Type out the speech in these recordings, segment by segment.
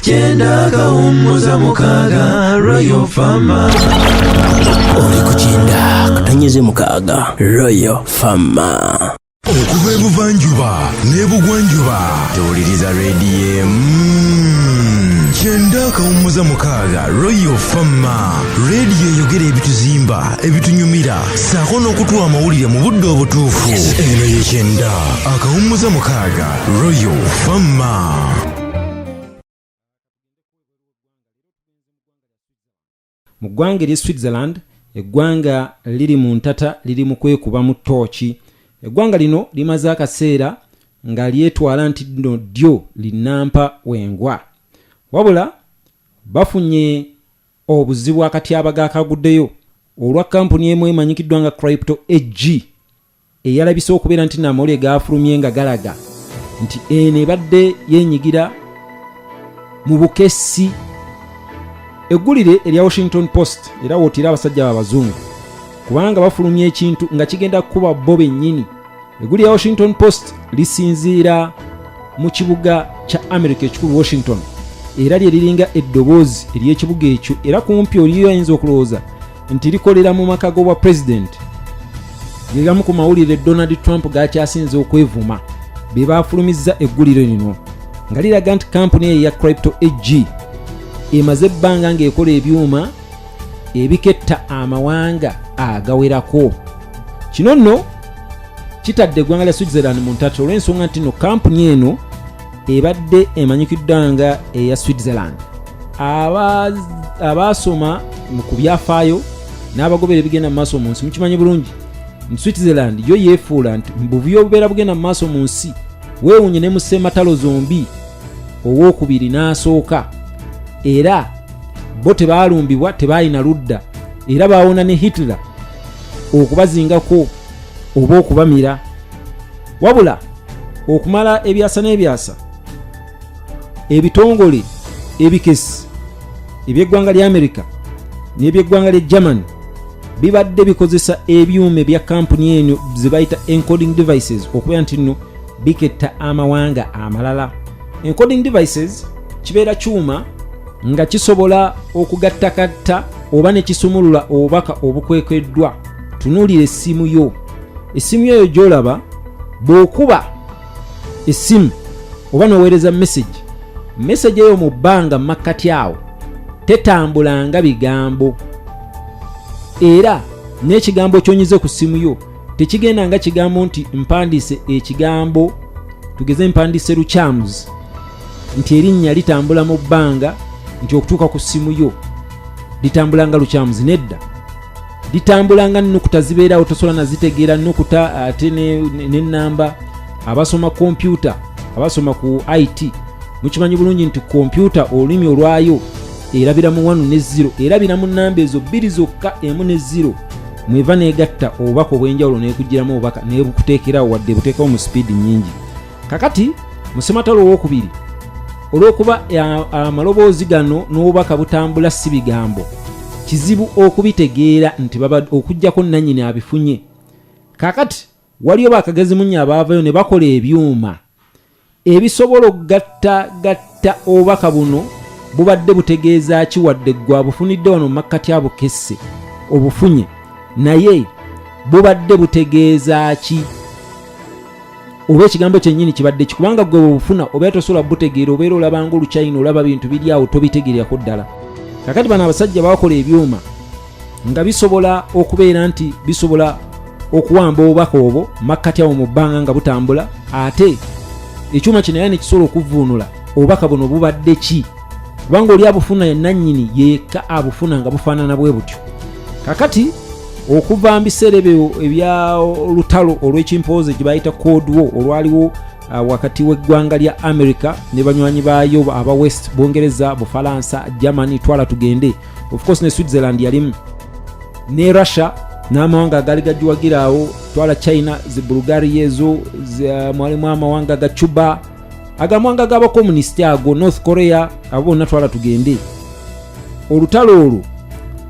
kyenda kawummuza mukaaga royal fama oli ku kyenda katanyeze mukaaga royal fama okuva ebuvanjuba n'ebugwanjuba tewuliriza rediyo emu kyenda akawummuza mukaaga royal fama rediyo eyogera ebituzimba ebitunyumira saako n'okutuwa amawulire mu budde obutuufu eno ye kyenda akawummuza mukaaga royal fama mu ggwanga erye switzerland eggwanga liri mu ntata liri mu kwekubamu tooki eggwanga lino limaze akaseera nga lyetwala nti no ddyo linampa wengwa wabula bafunye obuzibu akatyabaga akaguddeyo olwa kampuni emu emanyikiddwa nga crypto ag eyalabise okubeera nti namawulire gaafulumye nga galaga nti eno ebadde yenyigira mu bukessi eggulire erya washington post era wootira abasajja babazungu kubanga bafulumya ekintu nga kigenda kukuba bo bennyini eggulire ya washington post lisinziira mu kibuga kya america ekikulu washington era lye liringa eddoboozi ery'ekibuga ekyo era kumpi oliyo ayinza okulowooza nti likolera mu maka g'obwa pulezidenti gegamu ku mawulire donald trump gakyasinze okwevuma be baafulumizza eggulire lino nga liraga nti kampuni eyo ya crypto ag emaze ebbanga ng'ekola ebyuma ebiketta amawanga agawerako kino nno kitadde eggwanga lya switzerland mu ntatto olw'ensonga nti no kampuni eno ebadde emanyikiddwa nga eya switzerland abaasoma ku byafaayo n'abagobera ebigenda mu maaso mu nsi mukimanyi bulungi nti switzerland yo yeefuula nti mubuvuyo obubeera bugenda mu maaso mu nsi weewunye ne museematalo zombi owookubiri n'asooka era bo tebaalumbibwa tebaalina ludda era baawona ne hitler okubazingako oba okubamira wabula okumala ebyasa n'ebyasa ebitongole ebikesi eby'eggwanga lya amerika n'eby'eggwanga lya german bibadde bikozesa ebyuma ebya kampuni eno zebayita encoding devices okubeera nti nno biketta amawanga amalala encoding devices kibeera kyuma nga kisobola okugattakatta oba ne kisumulula obubaka obukwekeddwa tunuulira essimu yo essimu eyo gyolaba bw'okuba essimu oba noweereza mesegi mesegi eyo mu bbanga makkati awo tetambulanga bigambo era n'ekigambo kyonyize ku ssimu yo tekigenda nga kigambo nti mpandiise ekigambo tugeze mpandiise lukyamuzi nti erinnya litambula mu bbanga nti okutuuka ku ssimu yo litambulanga lukyamuzi nedda litambula nga nukuta zibeerawo tosobola nazitegeera nukuta ate nenamba abasoma kompyuta abasoma ku it mukimanyi bulungi nti kompyuta olulimi olwayo erabira mu wanu ne ziro erabira mu namba ezo bbiri zokka emu ne ziro mweva negatta obubaka obwenjawulo nekugiramu obubaka nebukuteekerawo wadde buteekawo mu sipiidi nyingi kakati musematalo owokubiri olwokuba amaloboozi gano n'obubaka butambula si bigambo kizibu okubitegeera nti okujjako nanyini abifunye kakati waliyo bakagezi munye abaavayo ne bakola ebyuma ebisobola okugatta gatta Minisita obubaka buno bubadde butegeeza ki wadde ggwe abufunidde wano mu makkati abukesse obufunye naye bubadde butegeeza ki oba ekigambo kyennyini kibadde ki kubanga gwe bwebufuna obeera tosobola butegeera obeera olabanga olukyayina olaba bintu biri awo tobitegeerako ddala kakati bano abasajja bakola ebyuma nga bisobola okubeera nti bisobola okuwamba obubaka obwo makkati awo mu bbanga nga butambula ate ekyuma kino era nekisobola okuvuunula obubaka buno bubadde ki kubanga oli abufuna yenannyini yeka abufuna nga bufaanana bwe butyo kakati okuva mu biseera ebyo ebya olutalo olw'ekimpooze gye bayita cold war olwaliwo uh, wakati w'eggwanga lya america ne banywanyi baayo aba west bungereza bufalansa germany twala tugende of course ne switzerland yalimu ne russia n'amawanga agaali gagiwagira awo twala china zi bulgaria ezo uh, mwalimu amawanga ga cuba agamawanga g'abakomunisiti ago north korea abo bonna twala tugende olutalo olwo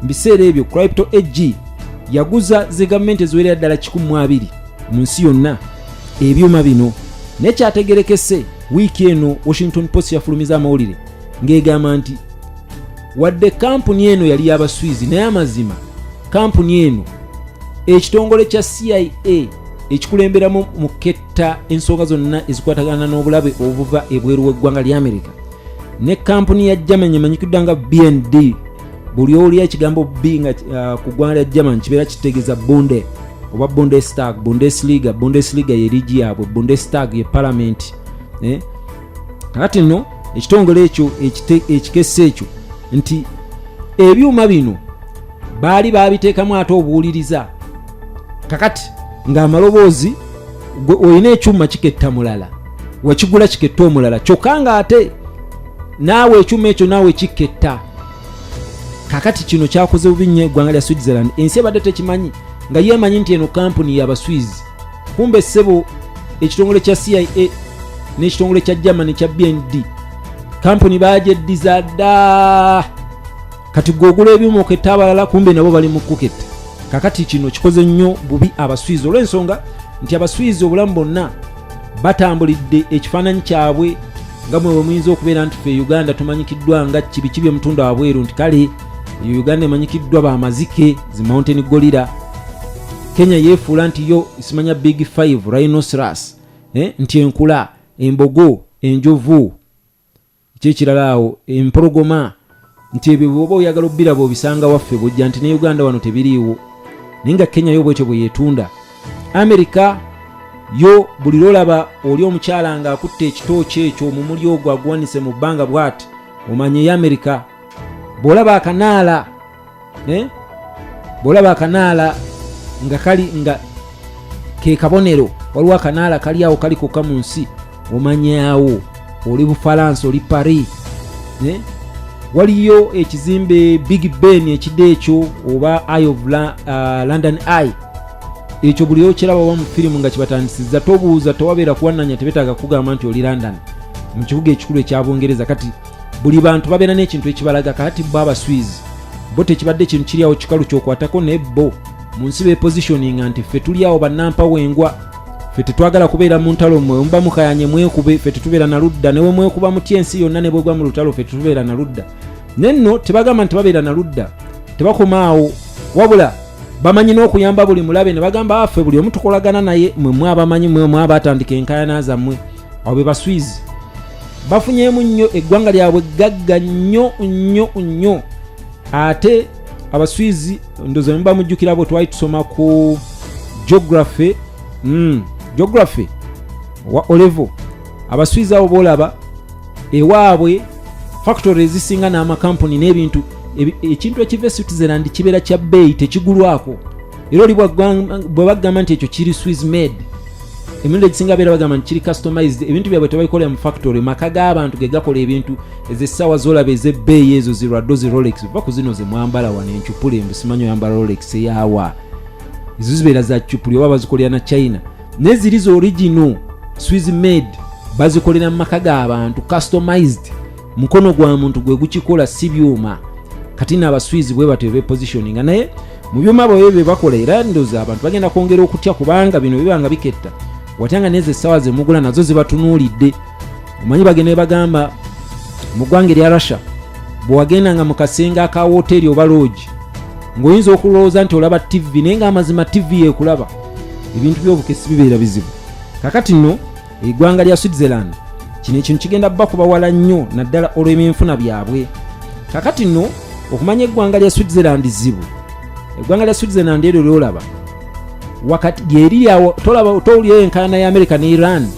mu biseera ebyo crypto ag yaguza zi gavumenti eziwerera ddala 12 mu nsi yonna ebyuma bino naye kyategerekese wiiki eno washington post yafulumiza amawulire ng'egamba nti wadde kampuni eno yali yabaswizi naye amazima kampuni eno ekitongole kya cia ekikulemberamu mu ketta ensonga zonna ezikwatagana n'obulabe obuva ebweru w'eggwanga lya amerika ne kampuni ya german emanyikidwa nga bnd buli owulira ekigambo b nga uh, ku ggwanga lya german kibeera kitegeeza bunde oba bundestag bundesliga bundesliga ye ligi yaabwe bundestag ye palamenti eh? kakati nno ekitongole ekyo ekikesa ekyo nti ebyuma bino baali babiteekamu ate obuwuliriza kakati ng'amaloboozi olina ekyuma kiketta mulala wakigula kiketta omulala kyokka ng'ate naawe ekyuma ekyo naawe kiketta kakati kino kyakoze bubi nnyo eggwanga lya switzerland ensi ebadde tekimanyi nga yeemanyi nti eno kampuni yabaswizi kumbe ssebo ekitongole kya cia n'ekitongole kya germany kya bnd kampuni bagyeddiza dda kati gwogula ebyuma oketta abalala kumbe nabo bali mu kuketta kakati kino kikoze nnyo bubi abaswizi olw'ensonga nti abaswizi obulamu bonna batambulidde ekifaananyi kyabwe nga mwe bwe muyinza okubeera nti fe uganda tumanyikiddwa nga kibiki bye mutunda wabweru nti kale eyo uganda emanyikiddwa bamazike zi mountain golira kenya yefuula nti yo simanya big 5 rhinoceros eh? nti enkula embogo enjovu kyekirala awo empologoma nti ebyo bwoba oyagala obiraba obisanga waffe bujja nti ne uganda wano tebiriiwo naye nga kenya yo bwetyo bweyetunda amerika yo buli lwolaba oli omukyala nga akutte ekitooki ekyo omumuli ogwo aguwanise mu bbanga bwati omanya eyamerika bwolaba akanaala eh? bwolaba akanaala nga kali nga kekabonero waliwo akanaala kali awo kali kokka mu nsi omanyawo oli bufalansa oli paris eh? waliyo ekizimbe big ben ekide ekyo oba eye of La, uh, london eye ekyo buli okiraba oba mu firimu nga kibatandisiza tobuuza tewabeera kuwananya tebetaaga kugamba nti oli london mu kibuga ekikulu ekya bungereza kati buli bantu babeera n'ekintu ekibalaga kakati bo abaswizi bo tekibadde ekintu kiri awo kikalu kyokwatako naye bo mu nsi bepositioninga nti ffe tuli awo bannampa wengwa ffe tetwagala kubeera mu ntalo mwe muba mukayanye mwekube ffe tetubeera na ludda newe mwekuba mutya ensi yonna ne bwegwa mu lutalo ffe tetubeera na ludda naye nno tebagamba nti babeera na ludda tebakoma awo wabula bamanyi n'okuyamba buli mulabe ne bagamba affe ah, buli omu tukolagana naye mwe mwabamanyi mwe mwabatandika enkayana zammwe abo be baswizi bafunyeemu nnyo eggwanga lyabwe gagga nnyo nnyo nnyo ate abaswizi ndoza nemuba mujjukira bwe twali tusoma ku geography mm, geography wa olevo abaswizi abo boolaba ewaabwe factory ezisinga n'amakampuni n'ebintu ekintu ekiva e switzerland kibeera kya bbeeyi tekigulwako era oli bwe bagamba nti ekyo kiri swiss made emirundi egisinga beera bagamba nti kiri customized ebintu byabwe tebabikolera mu factory maka g'abantu ge gakola ebintu ezessaawa zolaba ez'ebbeeyi ezo zirwaddo zi rolex va ku zino ze mwambala wano encupuli embu simanyi oyambala rolex eyawa ezo zibeera za cupuli oba bazikolera na china naye ziri za original swiss made bazikolera mu maka g'abantu customized mukono gwa muntu gwe gukikola si byuma kati naabaswizi bwe batyo bepositioninga naye mu byuma bwebyo bye bakola era ndoza abantu bagenda kwongera okutya kubanga bino bibanga biketta watanga nezo essaawa zemugula nazo zibatunuulidde omanyi bagenda ebagamba mu ggwanga erya russia bwewagenda nga mu kasenge aka woteeri oba loogi ng'oyinza okulowooza nti olaba ttivi naye nga amazima ttivi yeekulaba ebintu by'obukesi bibeera bizibu kakati nno eggwanga lya switzerland kino ekintu kigenda bakuba wala nnyo naddala olw'ebyenfuna byabwe kakati nno okumanya eggwanga lya switzerland zibu eggwanga lya switzerland eryo lyolaba wakati lyeriri awo tolaba towulira enkaana ya america ne iran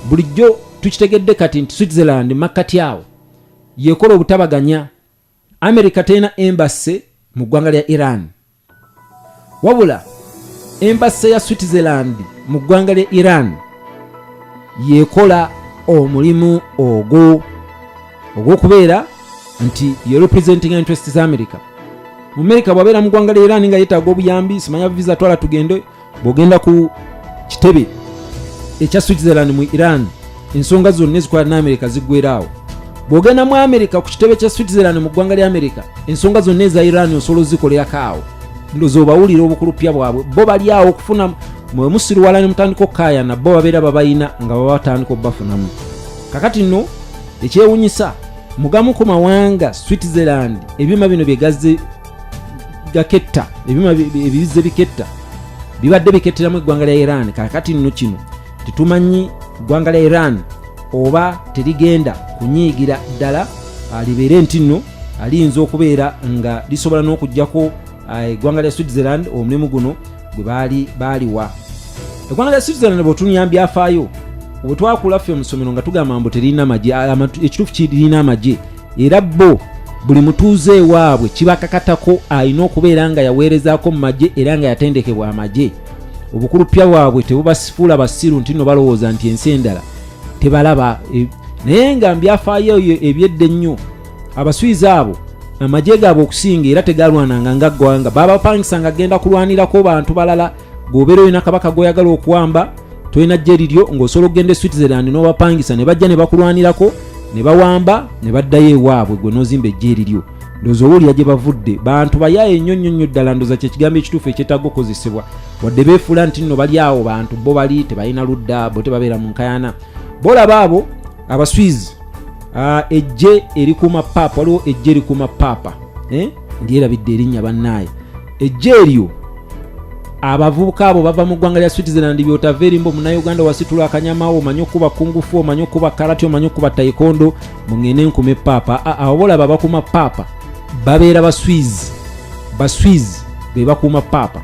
bulijjo tukitegedde kati nti switzerland makkati awo yekola obutabaganya america terina embassy mu ggwanga lya iran wabula embassy ya switzerland mu ggwanga lya iran yekola omulimu ogwo ogw'okubeera nti ye representing interest za america mu america bwabeera mu ggwanga lya iran nga yetaaga obuyambi simanya visa twala tugende bw'ogenda ku kitebe ekya switzerland mu iran ensonga zonna ezikwata ne amerika ziggweraawo bw'ogenda mu amerika ku kitebe kya switzerland mu ggwanga lya amerika ensonga zonna eza iran osobola ozikolerako awo ndoza obawulira obukulupya bwabwe bo bali awo okufuna mwe musiriwala ne mutandika okukayana bo babeera babalina nga baba batandika obubafunamu kakati nno ekyewunyisa mugamu ku mawanga switzerland ebyuma bino byegazze gaketta ebyuma ebibizze biketta bibadde biketteramu eggwanga lya iran kakati nno kino tetumanyi ggwanga lya iran oba terigenda kunyiigira ddala ah, libeere nti nno ah, liyinza okubeera nga lisobola n'okugyako ah, eggwanga lya switzerland omulimu guno gwe baali baaliwa eggwanga lya switzerland bwetunya byafaayo bwetwakula ffe omusomero nga tugamba mbu terina amagye ekituufu kirina amagye era bo buli mutuuze ewaabwe kibakakatako alina okubeera nga yaweerezaako mu magye era nga yatendekebwa amagye obukulupya bwabwe tebubasifuula basiru nti no balowooza nti ensi endala tebalaba e, naye nga mbyafaayo eyo ebyedda ennyo abaswizi abo amagye gaabwe okusinga era tegalwananga nga ggwanga babapangisanga agenda kulwanirako bantu balala bw'obeera olina kabaka gw'oyagala okuwamba tolina jje liryo ng'osobola okugenda e switzerland n'obapangisa ne bajja ne bakulwanirako ne bawamba ne baddayo ewaabwe gwe n'ozimba ejje eriryo ndoza owulira gye bavudde bantu bayaaye nnyo nnyo nnyo ddala ndoza kyekigambo ekituufu ekyetaaga okukozesebwa wadde beefuula nti nno bali awo bantu bo bali tebalina ludda bo tebabeera mu nkayana bolaba abo abaswizi ah, ejje erikuuma paapa waliwo ejje erikuuma paapa eh? ndyerabidde erinnya bannaaye ejja eryo abavubuka abo bava mu ggwanga lya switzerland byotava erimba omunauganda wasitula akanyamawo omanye okuba kungufu omanye okuba karati omanye okuba taikondo mungende nkume paapa awo bolaba bakuma paapa babeera baswiz baswiz be bakuuma paapa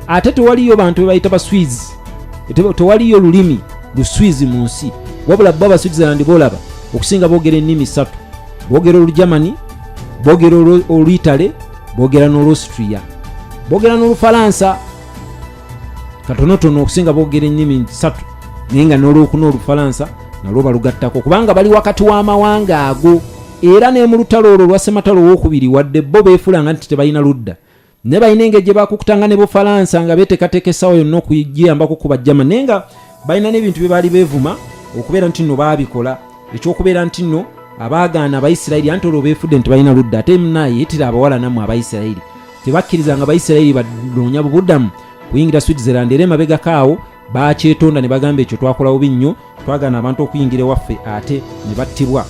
ate tewaliyo bantu bebayita baswiz tewaliyo lulimi luswizi mu nsi wabula bo abaswitzerland bolaba okusinga bogera ennimi ssatu bogera olugermani bogera oluitale boogera n'olwostria boogera n'olufalansa katonotono okusinga boogera ennimi nsatu naye nga n'olwokuna olufalansa nalwo balugattako kubanga bali wakati w'amawanga ago era ne mu lutalo olwo lwasematalo owokubiri wadde bo beefulanga nti tebalina ludda ne balina engeri gye bakukutanga ne bufalansa nga beeteekateeka essaawa yonna okugiyambako kuba german naye nga balina n'ebintu bye baali beevuma okubeera nti nno baabikola ekyokubeera nti nno abaagaana abaisirairi anti olwo beefudde nti balina ludda ate munaye yetira abawala nammwe abaisirairi tebakkiriza nga abaisirairi banoonya bubudamu kuyingira switzerland era emabegako awo bakyetonda ne bagamba ekyo twakola bubi nnyo twagaana abantu okuyingira ewaffe ate ne battibwa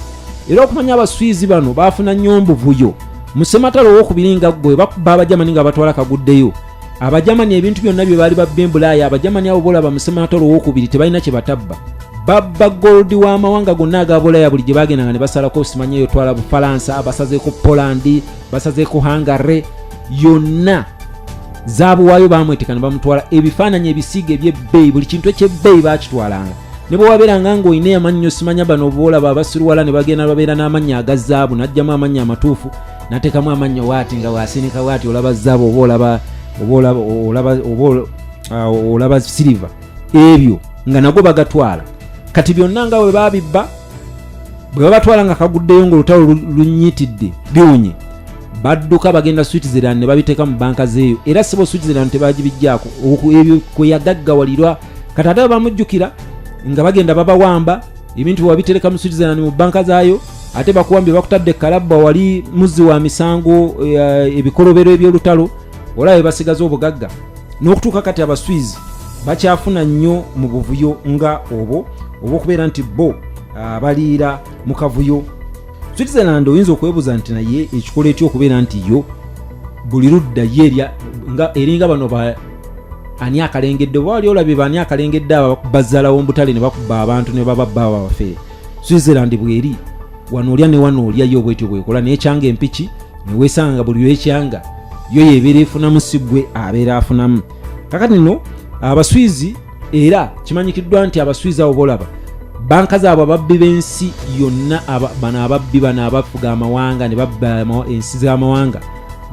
era okumanya abaswizi bano baafuna nnyo mbuvuyo musematalo owokubiri nga ggwe bakuba abajamani nga batwala kaguddeyo abajamani ebintu byonna bye baali babba embulaaya abajamani abo bolaba musemanato olwowokubiri tebalina kye batabba babba goldi w'amawanga gonna aga bulaya buli gye bagendanga ne basalako simanya eyo twala bufalansa basazeeko polandi basazeeko hangare yonna zabuwaayo bamwetekana bamutwala ebifaananyi ebisiiga ebyebbeeyi buli kintu ekyebbeeyi bakitwalanga ne bwe wabeeranga ng'olina eyamannyo simanya bano oboolaba abasiruwala ne bagenda babeera n'amannya aga zaabu n'ajjamu amannya amatuufu natekamu amannyo waati nga wasinika waati olaba zaabu oba olaba olaba ah, siriva ebyo nga nago bagatwala kati byonna nga we babibba bwe babatwala nga kaguddeyo ngaolutalo lunyitidde biwunye badduka bagenda switzerland ne babiteeka mu banka zeeyo era sibo switzerland tebagibijjaako ebyo kwe yagaggawalirwa kati ate bamujjukira nga bagenda babawamba ebintu bwebabitereka mu switzerland mu banka zaayo ate bakuwambye bakutadde kalabba wali muzzi wa misango eh, ebikolobero ebyolutalo olaba bebasigaza obugagga n'okutuuka kati abaswizi bakyafuna nnyo mu buvuyo nga obwo oba okubeera nti bo ah, baliira mu kavuyo switzerland oyinza okwebuuza nti naye ekikola etya okubeera nti yo buli ludda ye eringa bano ani akalengedde oba wali olabye baani akalengedde abo bazzalawo mu butale ne bakuba abantu ne bababba abo abafere switzerland bweri wano olya ne wano olya yo bwetyo bwekola naye ekyanga empiki newesanga nga buli lwekyanga yo yebeera efunamu si gwe abeera afunamu kakati no abaswizi era kimanyikiddwa nti abaswizi abo bolaba banka zaabwe ababbi b'ensi yonna bano ababbi bano abafuga amawanga ne babba ensi z'amawanga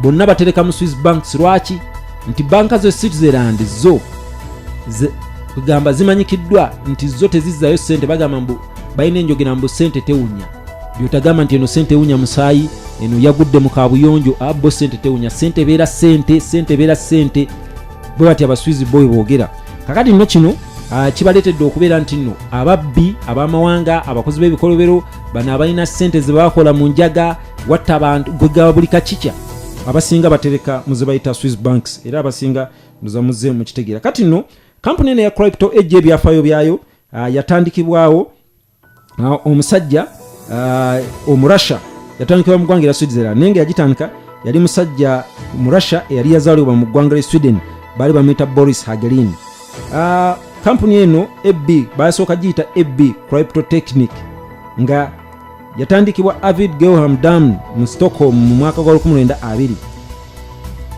bonna batereka mu swiss banks lwaki nti banka ze switzerland zo kugamba zimanyikiddwa nti zo tezizzayo sente bagamba mbu balina enjogera mbu sente tewunya byotagamba nti eno sente ewunya musaayi eno yagudde mu kabuyonjo abo ah, sente tewunya sente ebeera sente sente ebeera sente bwe bati abaswizi boy boogera kakati nno kino ah, kibaleetedde okubeera nti nno ababbi ab'amawanga abakozi b'ebikolobero bano abalina sente ze bakola mu njaga watta abantu gwegaba buli kakikya abasinga batereka muzebayita swiss banks era abasinga muzamuze mukitegeera kati no kampuni eno ya crypto ejja ebyafayo byayo ah, yatandikibwawo ah, omusajja ah, omurussia yatandikibwa mu ggwanga era switzerland naye nga yagitandika yali musajja murussia eyali yazaalibwa mu ggwanga lya sweden baali bamuyita boris hagelin kampuni eno eb baasooka giyita eb crypto technique nga yatandikibwa avid gelham dam mu stockholm mu mwaka gwa 1920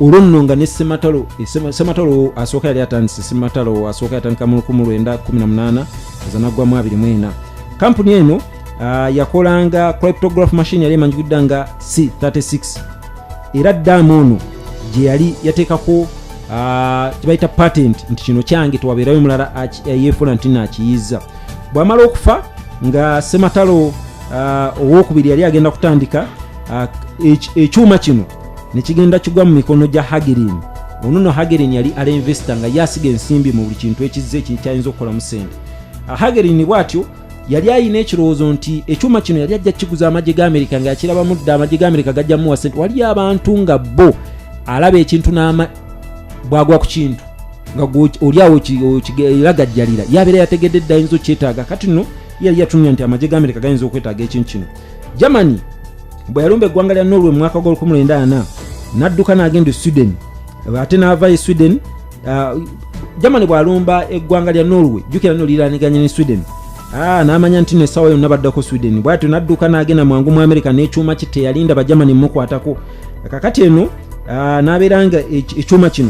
olwo nno nga ne sematalo eh, sematalo asooka yali atandise sematalo asooka yatandika mu 1918 ezanaggwamu 24 kampuni eno ah, yakolanga cryptograph machine yali emanjikidda nga c36 era dam ono gye yali yateekako ah, kyebayita patent nti kino kyange tewabeerayo mulala yeefuna nti naakiyizza bwamala okufa nga sematalo uh, owokubiri yali agenda kutandika uh, ekyuma kino nekigenda kigwa mu mikono gya hagerin ono no hagerin yali ala investor nga yasiga ensimbi mu buli kintu ekizze kyayinza okukolamu sente uh, hagerin bwatyo yali ayina ekirowoozo nti ekyuma kino yali ajja kukiguza amagye ga amerika nga yakirabamu dda amagye ga amerika gajja muwa sente waliyo abantu nga bo alaba ekintu bwagwa ku kintu nga olyawo okilagajjalira yabeera yategedde dda ayinza okyetaaga kati no yali yatunula nti amagye ga amerika gayinza okwetaaga ekintu kino germany bwe yalumba eggwanga lya norway mu mwaka gwa 1994 n'adduka n'agenda e sweden ate n'ava e sweden ah, germany bw'alumba eggwanga lya norway jukira no liraniganye ne sweden ah, n'amanya nti no essaawa yonna baddako sweden bwatyo n'adduka n'agenda mwangu mu amerika n'ekyuma ki teyalinda bagermany mukwatako kakati eno ah, n'abeera nga ekyuma kino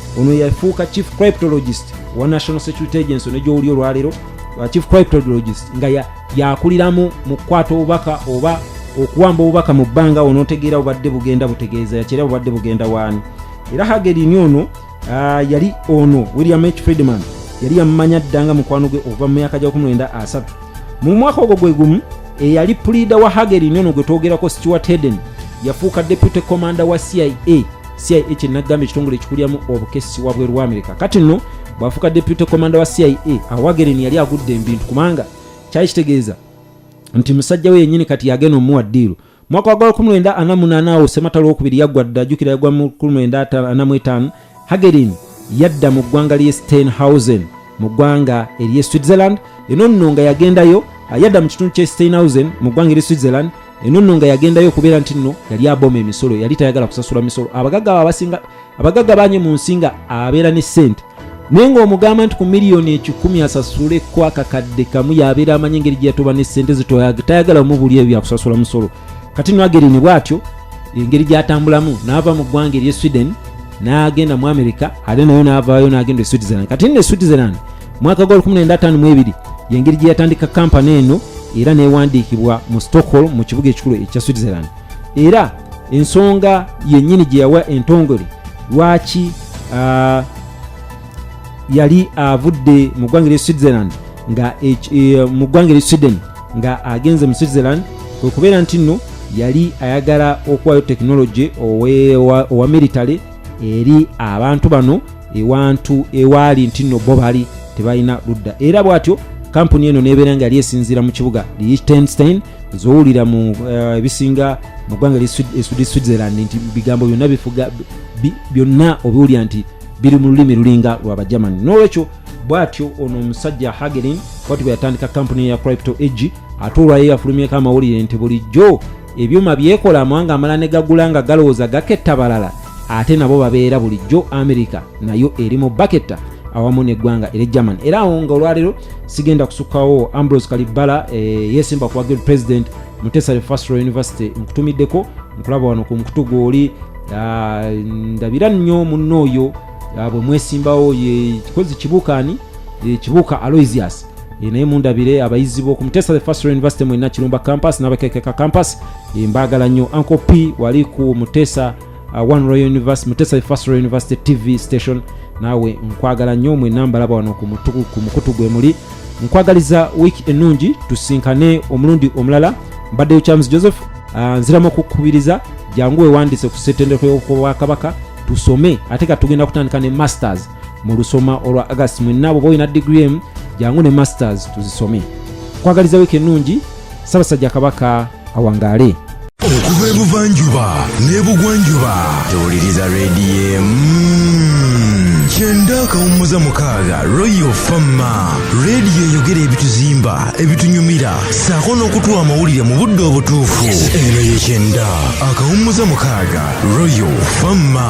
ono yafuuka chief cryptologist wa national security agency ono gyowuli olwaleero uh, chief cryptologist nga yakuliramu ya mu kukwata obubaka oba okuwamba obubaka mu bbanga onotegeera bubadde bugenda butegeeza yakyera bubadde bugenda waani era hagerini ono uh, yali ono william h friedman yali yamumanya dda nga mukwano gwe okuva mu myaka gyakumwenda asatu mu mwaka ogwo gwe gumu eyali puliida wa hagerini ono gwe twogerako stewart heden yafuuka deputy commander wa cia cia kyenagamba ekitongole ekikulyamu obukessi wabwe lwa amerika kati nno bwafuuka deputy commanda wa cia awagereni yali agudde embintu kubanga kyali kitegeeza nti musajja we yennyini kati yagenda omuwa ddiiru mwaka wa gwala kumwenda ana munaana awo sematalo okubiri yaggwa dda ajjukira yagwa mu kumwenda ana mu etaano hagerin yadda mu ggwanga ly'e steinhausen mu ggwanga ery'e switzerland eno nno nga yagendayo yadda mu kitundu ky'e steinhausen mu ggwanga ery'e switzerland eno nno nga yagendayo okubeera nti nno yali aboma emisolo yali tayagala kusasula misolo abagagga babasinga abagagga banye mu nsi nga abeera ne sente naye ng'omugamba nti ku miliyoni ekikumi asasule ku akakadde kamu yabeera amanyi engeri gyeyatuba ne sente zitayagala mubuli ebyo byakusasula musolo kati no agerini bwatyo engeri gyatambulamu naava mu ggwanga erye sweden n'agenda mu america ate nayo n'avaayo n'agenda e switzerland kati nno e switzerland mwaka gwa 1952 yengeri gye yatandika kampani eno era newandiikibwa mu stockholm mu kibuga ekikulu ekya switzerland era ensonga yennyini gye yawa entongole lwaki uh, yali avudde mu ggwanga lya switzerland nga e, mu ggwanga lya sweden nga agenze mu switzerland kwekubeera nti nno yali ayagala okuwayo tekinologi owa military eri abantu bano ewantu ewaali nti nno bo bali tebalina ludda era bwatyo kampuni eno nebeera nga yali esinziira mu kibuga liechtenstein zowulira mu eh, ebisinga uh, mu ggwanga li switzerland nti bigambo byonna bifuga byonna obiwulira nti biri mu lulimi lulinga lwa bagermany nolwekyo bwatyo ono omusajja hagelin bwati bwe yatandika kampuni ya crypto ag ate olwayo yafulumyeko amawulire nti bulijjo ebyuma byekola amawanga amala ne gagula nga galowooza gaketta balala ate nabo babeera bulijjo amerika nayo eri mu baketta awamu neggwanga eri german era awo nga olwaleero sigenda kusukawo ambrose kalibbala e, eh, yesimba kuwa guild president mutesale fastro university nkutumiddeko nkulaba wano ku mukutu gwoli ah, ndabira nnyo munno oyo ah, bwe mwesimbawo ye kikozi kibuukaani eh, kibuuka aloysius Eh, naye mundabire abayizi boku mutesa the first university mu nakirumba campus nabakekeka campus eh, mbagala nnyo uncle p wali ku mutesa uh, one royal university mutesa the first royal university tv station naawe nkwagala nnyo mwena mbalaba wano ku mukutu gwe muli nkwagaliza wiiki ennungi tusinkane omulundi omulala mbaddeyo charles joseph uh, nziramu okukubiriza jangu wewandise ku setendeko yobwakabaka tusome ate ka tugenda kutandika ne masters mu lusoma olwa agast mwenna bwoba olina digiri emu jangu ne masters tuzisome kwagaliza wiiki ennungi ssabasajja kabaka awangaale okuva ebuvanjuba n'ebugwanjuba tewuliriza rediyo mm. kyenda akawummuza mukaaga royal fama rediyo eyogera ebituzimba ebitunyumira saako n'okutuwa amawulire mu budde obutuufu eno ye kyenda akawummuza mukaaga royal fama